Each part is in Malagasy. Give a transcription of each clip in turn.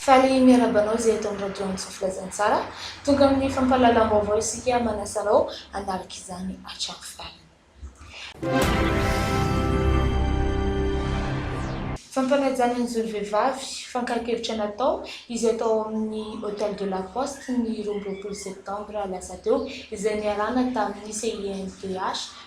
Faly miarahaba anao izay eto amin'ny Radio Antso Filazantsara. Tonga amin'ny fampahalalam-baovao isika manasa anao hanaraka izany hatramin'ny farany. Fampanajana ny zon'ny vehivavy, fankahakevitra natao izay tao amin'ny Hôtel de la Poste ny roa amby roapolo septambra lasa teo izay niarahana tamin'ny CINDH,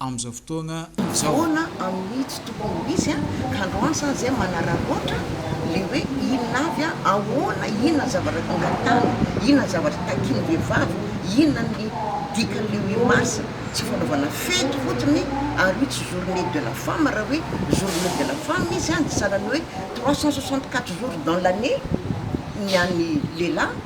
amin'izao fotoana izao. Ahoana amin'ny tsy tokony ho izy ka androany sa izay manarary loatra ilay hoe inona avy a, ahoana, inona ny zavatra tonga tany, inona ny zavatra takin'ny vehivavy, inona ny dikan'ilay huit mars, tsy fanaovana fety fotsiny ary io tsy journée de la femme raha hoe journée de la femme izy a dia sahalan'ny hoe trois cent soixante quatre jours dans l'année ny an'ny lehilahy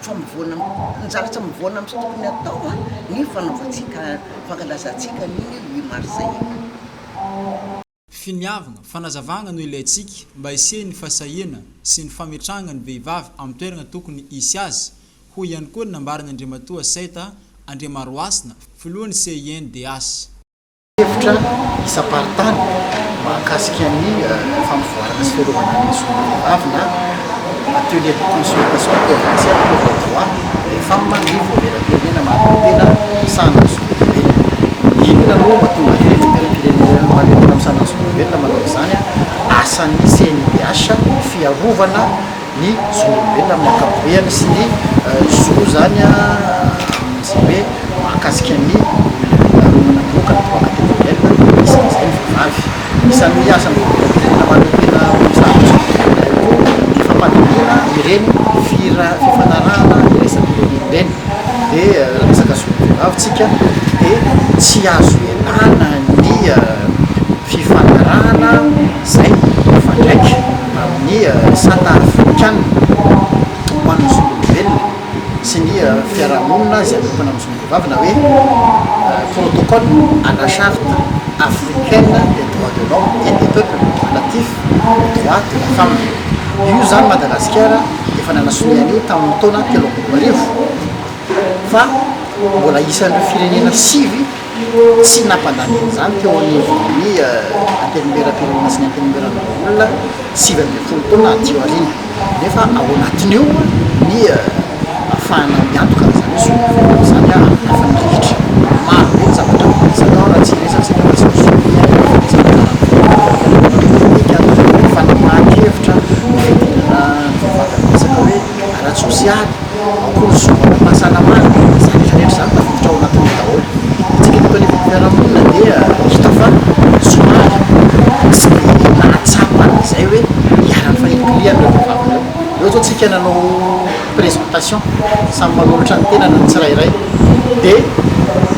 Fa mivoana am, zara tsy mivoana am tsy tokony atao an ny fanaovantsika fankalazantsika an iny huit mars iny. Finiavana, fanazavagna no ilaintsika mba hisian' ny fahasahiana sy ny fametrahagna ny vehivavy amin'ny toerana tokony hisy azy, hoy ihany koa ny nambaran' Andriamatoa Saita Andriamaroasina, filohan'ny CINDH. Hevitra isam-paritany mahakasika ny famovoarana sy fiarovana ny zon'ny avy na Atelier de consultation provincial pour le droit des femmes ny Voamerampionena Mahaleo-tena Misahana ny Zon'olombelona. Inona no mahatonga ny Voamerampionena Mahaleo-tena Misahana ny Zon'olombelona manao izany? Asan'ny CNIDH ny fiarovana ny zon'olombelona amin'ny ankapobeny sy ny zo izany amin'izay hoe mahakasika ny olona roa manam-bohoka na trois categoriels, isan'izay ny vehivavy. Isan'ny asan'ny vondrom-pirenena maneho tena ho mizatra ihany koa ny fampandidiana ireny fira fifanarahana iraisam-pirenena ireny. Dia raha resaka zon'ny vehivavy isika dia tsy azo ialana ny fifanarahana. izay no mifandraika amin'ny sata afrikana ho an'ny zon'olombelona sy ny fiarahamonina izay miompana amin'ny zon'olombavy na hoe Protocole à la Charte africaine des droits de l'homme et des peuples natifs, droit de la femme. Io izany Madagasikara efa nanasonay an'io tamin'ny taona telo amby roa arivo fa mbola isan'ireo firenena sivy Tsy nampandany an'izany teo anivon'ny Antenimierampirenena sy ny Antenimieran'ny Loholona sivy ambin'ny folo taona aty aoriana, nefa ao anatin'io ny ahafahana miantoka an'izany hoe zona valo izany amin-tafiny rivotra. Maro be ny zavatra momba izany ao raha tsy hiresaka isika hoe resaka sonia, resaka fiaraha-monina, resaka teknika, resaka hoe fanapahan-kevitra, ny fidirana mivantana amin'ny resaka hoe ara-tsosialy. Akory zo ho an'ny fahasalamana izany rehetra rehetra izany tafiditra ao anatin'io daholo. Ny antsika eto anivon'ny fiarahamonina dia hita fa somary tsy nahatsapa an'izay hoe iharan'ny fahilikilihan'ireo vehivavy ireo. Eo izao tsika nanao présentation samy manoratra ny tenany ny tsirairay dia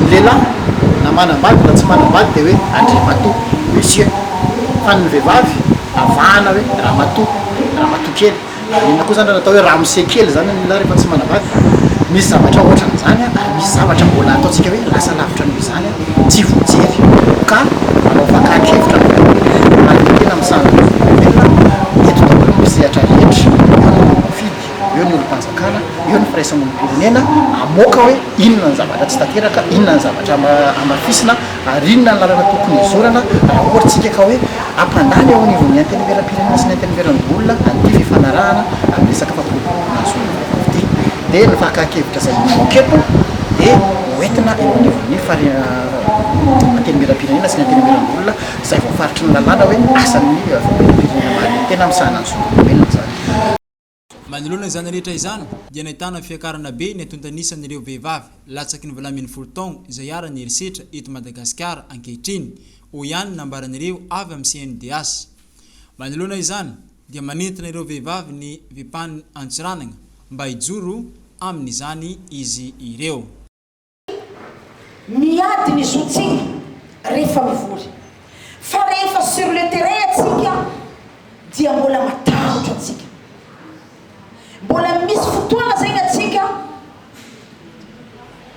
ny lehilahy na manambady na tsy manambady dia hoe Andriamatoa, Monsieur, fa ny vehivavy avahana hoe Ramatoa, Ramatoakely. Inona koa izany no atao hoe ramose kely izany ny lahy rehefa tsy manavady? Misy zavatra ohatran'izany ary misy zavatra mbola ataontsika hoe lasa lavitra noho izany, tsy voajery ka manao fakan-kevitra ny atao hoe manana tena misandoka ny vavolombelona, eto daholo ny sehatra rehetra, eo ny olom-boafidy, eo ny olom-panjakana, eo ny firaisamonim-pirenena, hamoaka hoe inona ny zavatra tsy tanteraka, inona ny zavatra hamafisina. Ary inona ny lalana tokony hozorana raha ohatra isika ka hoe hampandany eo anivon'ny Antenimierampirenena sy ny Antenimierandoholona an'ity fifanarahana amin'ny resaka fampiroborobo na zone rouge ity? Dia ny fakan-kevitra izay mivoaka eto dia ho entina eo anivon'ny Antenimierampirenena sy ny Antenimierandoholona izay voafaritry ny lalàna hoe asan'ny Vaomieram-pirenena mahaleo tena misahana ny zon'olombelona izany. Manoloana izany rehetra izany dia nahitana fiakarana be ny antontan'isan'ireo vehivavy latsaky ny valo ambin'ny folo taogno izay iharan'ny herisetra eto Madagasikara ankehitriny, hoy ihany ny nambaran'ireo avy amin'ny CNDH. Manoloana izany dia manentana ireo vehivavy ny Vpan Antsiranana mba hijoro amin'izany izy ireo. Miady ny zontsika rehefa mivory. Fa rehefa sur le terrain atsika dia mbola matahotra atsika. Mbola misy fotoana zegny atsika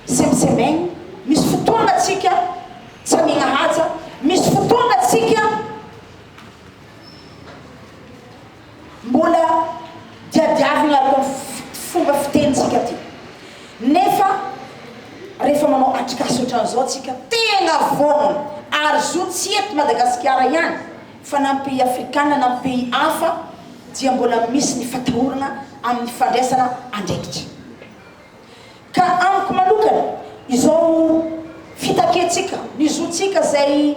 semsemegny, misy fotoana atsika tsy amegna haja, misy fotoana atsika Mbola diadiavina araka ny fomba fitenintsika aty nefa rehefa manao atrikasa ohatran'izao tsika tena vonona ary zo tsy eto Madagasikara ihany fa na amin'ny pays afrikana na amin'ny pays hafa dia mbola misy ny fatahorana amin'ny fandraisana andraikitra ka amiko manokana izao fitakiantsika ny zontsika izay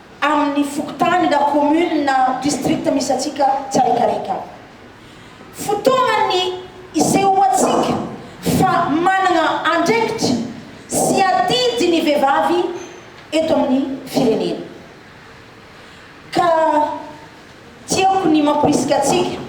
amin'ny fokontany na commune na district misy antsika tsaraikaraikan fotoanany isehoantsika fa manana andraikitra sy adidy ny vehivavy eto amin'ny firenena ka tiako ny mamporisika antsika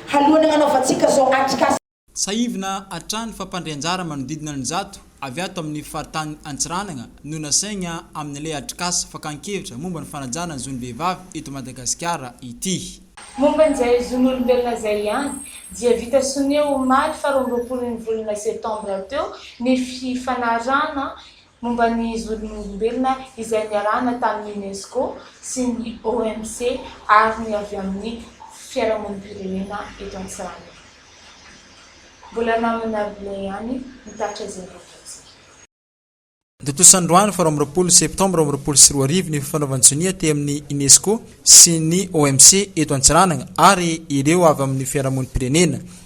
haloany agnanaovantsika zao atrikasa Tsahivina hatrany fa mpandray anjara manodidina ny zato avy ato amin'ny faritany Antsiranana no nasaina amin'ilay atrikasa fakan-kevitra momba ny fanajana ny zon'ny vehivavy eto Madagasikara ity. Momba izay zon'olombelona izay ihany dia vita sonia omaly faha roa amby roapolo ny volana septambra teo ny fifanarahana momba ny zon'olombelona izay niarahana tamin'ny UNESCO sy ny OMC ary ny avy amin'ny fiarahamonim-pirenena eto Antsiranana. Mbola namana Blay ihany ny tatitra izay novokatsika. Nitontosa androany faha roa amby roapolo septambra roa amby roapolo sy roa arivo ny fifanaovan-tsonia teo amin'ny UNESCO sy ny OMC eto Antsiranana ary ireo avy amin'ny fiarahamonim-pirenena.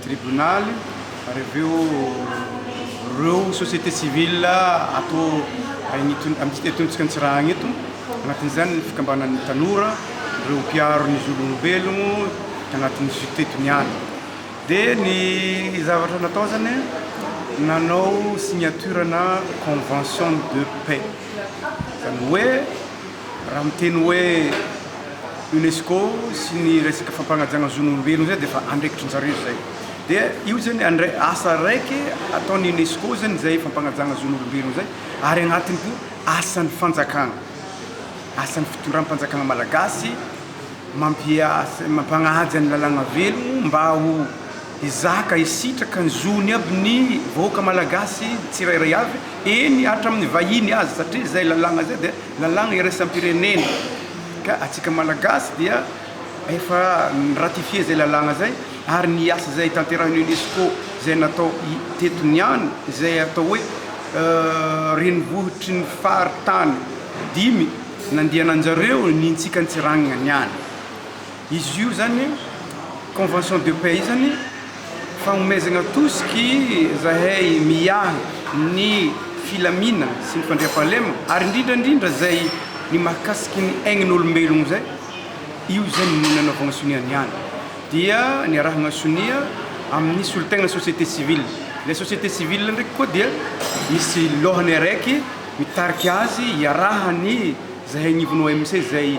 Tribonaly ary avy eo ireo société civile ato amin'ity antsika Antsirahagna ito, anatin'izany ny fikambanan'ny tanora, ireo mpiaro ny zon'olombelogno tanatin'izio teto niany. Dia ny zavatra natao zany, nanao signature-na convention de paix, zany hoe, Raha miteny hoe UNESCO sy ny resaka fampanajana zon'olombelona zay dia efa andraikitry ny zareo izay. Dia io zany andra- asa araiky ataon'ny UNESCO zany izay fampanajana zon'olombelona izay ary agnatiny koa asan'ny fanjakana, asan'ny fitondram-panjakana malagasy mampiasa, mampagnaja ny lalàna velogno mba ho hizaka hisitraka ny zony aby ny vahoaka malagasy tsirairay avy, eny hatramin'ny vahiny aza satria izay lalàna izay dia. Lalàna iraisam-pirenena ka antsika Malagasy dia efa ni-ratifier izay lalàna izay ary ny asa izay tanterahin'ny Unesco izay natao teto niany izay atao hoe renivohitry ny faritany dimy nandiananjareo ny ntsika nitsirangna niany. Izy io zany convention de paix io zany fagnomezagna tosiky zahay miahy ny filamina sy ny fandriampahalemana ary indrindra indrindra zay ny mahakasiky ny aign'olombelogno zay io zany no nanaovagna sonia niany dia niarahagna sonia amin'ny solotegna société civile le société civile ndraiky koa dia misy lôhany araiky mitarika azy iarahany zahay agnivon'ny OMC zay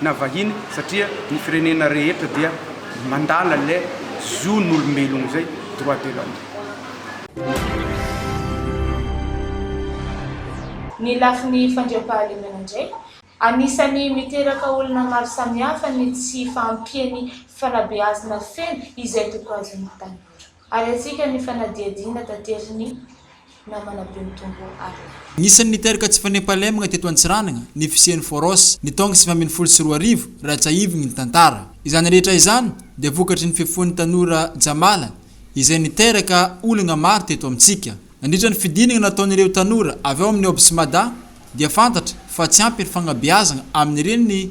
na vahiny satria ny firenena rehetra dia mandala ilay zon'olombelogno izay, droit de l'homme. Ny lafiny fandriampahalemana indray, anisan'ny miteraka olana maro samihafa ny tsy fahampian'ny fanabeazana feno izay toko azon'ny tanora. Hariantsika ny fanadihadiana taterin'ny namana be mitomboa ary. Anisan'ny niteraka tsy fanempalempgna teto Antsiranana ny fisian'ny Foros ny taogna sivy ambin'ny folo sy roa arivo raha tsahivigny ny tantara. Izany rehetra izany dia vokatry ny fifoan'ny tanora jamala izay niteraka olagna maro teto amintsika. Nandritra ny fidinagna nataon'ireo tanora avy ao amin'ny Obs Mada dia fantatra fa tsy ampy ny fagnabeazagna amin'ireny ny.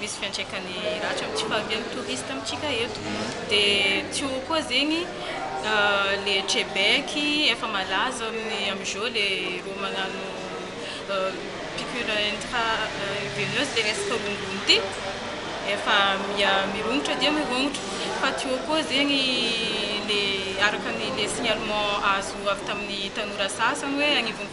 misy fiantraikany ratsy amin'ny tsy fahampian'ny touriste amintsika eto dia tsy ho koa zegny le chebeky efa malaza amin'ny amizao le ireo magnano piqure intra veineuse le resaka rongony ity efa miha mirongotra dia mirongotra fa tsy ho koa zegny le araka ny le signalement azo avy tamin'ny tanora sasany hoe agnivon'ny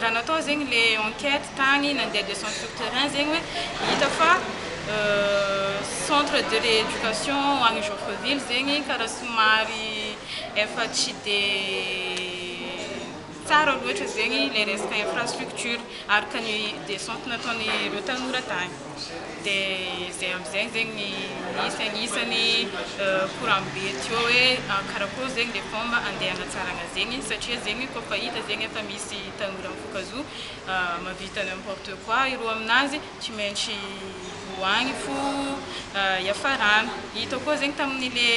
Raha natao zegny ilay enquête tagny nandeha de son sur terrain zegny hoe hita fa centre de rééducation any Joffreville zegny karaha somary efa tsy de tsara loatra zegny ilay resaka infrastructure araka ny descente nataon'ireo tanora tagny. Dia izay amin'izay zegny ny misy agnisany courant be tsy eo hoe karakory zegny le pomba andeha hanatsaragna zegny satria zegny koa fa hita zegny efa misy tanora mifokazo mavita n'importe quoi ireo aminazy tsy maintsy voahagny fo hiafaragna. Hita koa zegny tamin'ny le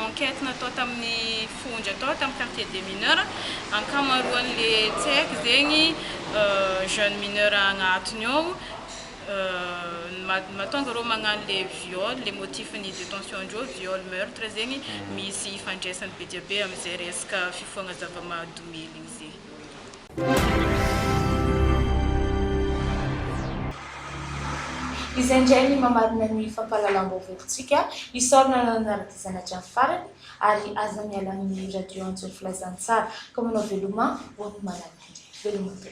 enquête natao tamin'ny fonja tao tamin'ny quartier des mineurs ankamaroan'le tsaiky zegny jeune mineur agnatiny ao ny mahatonga reo magnano le viol le motif ny detention ndreo viol meurtre zegny misy ifandraisany be dia be amizay resaka fifohagna javamahadomeliny zegny. Izay indray ny mamarina ny fampahalalam-baovaontsika, isaorana nanaradia izany hatramin'ny farany ary aza miala amin'ny radio antsony filazantsara ka manao veloma hoan'ny manampy. Veloma be.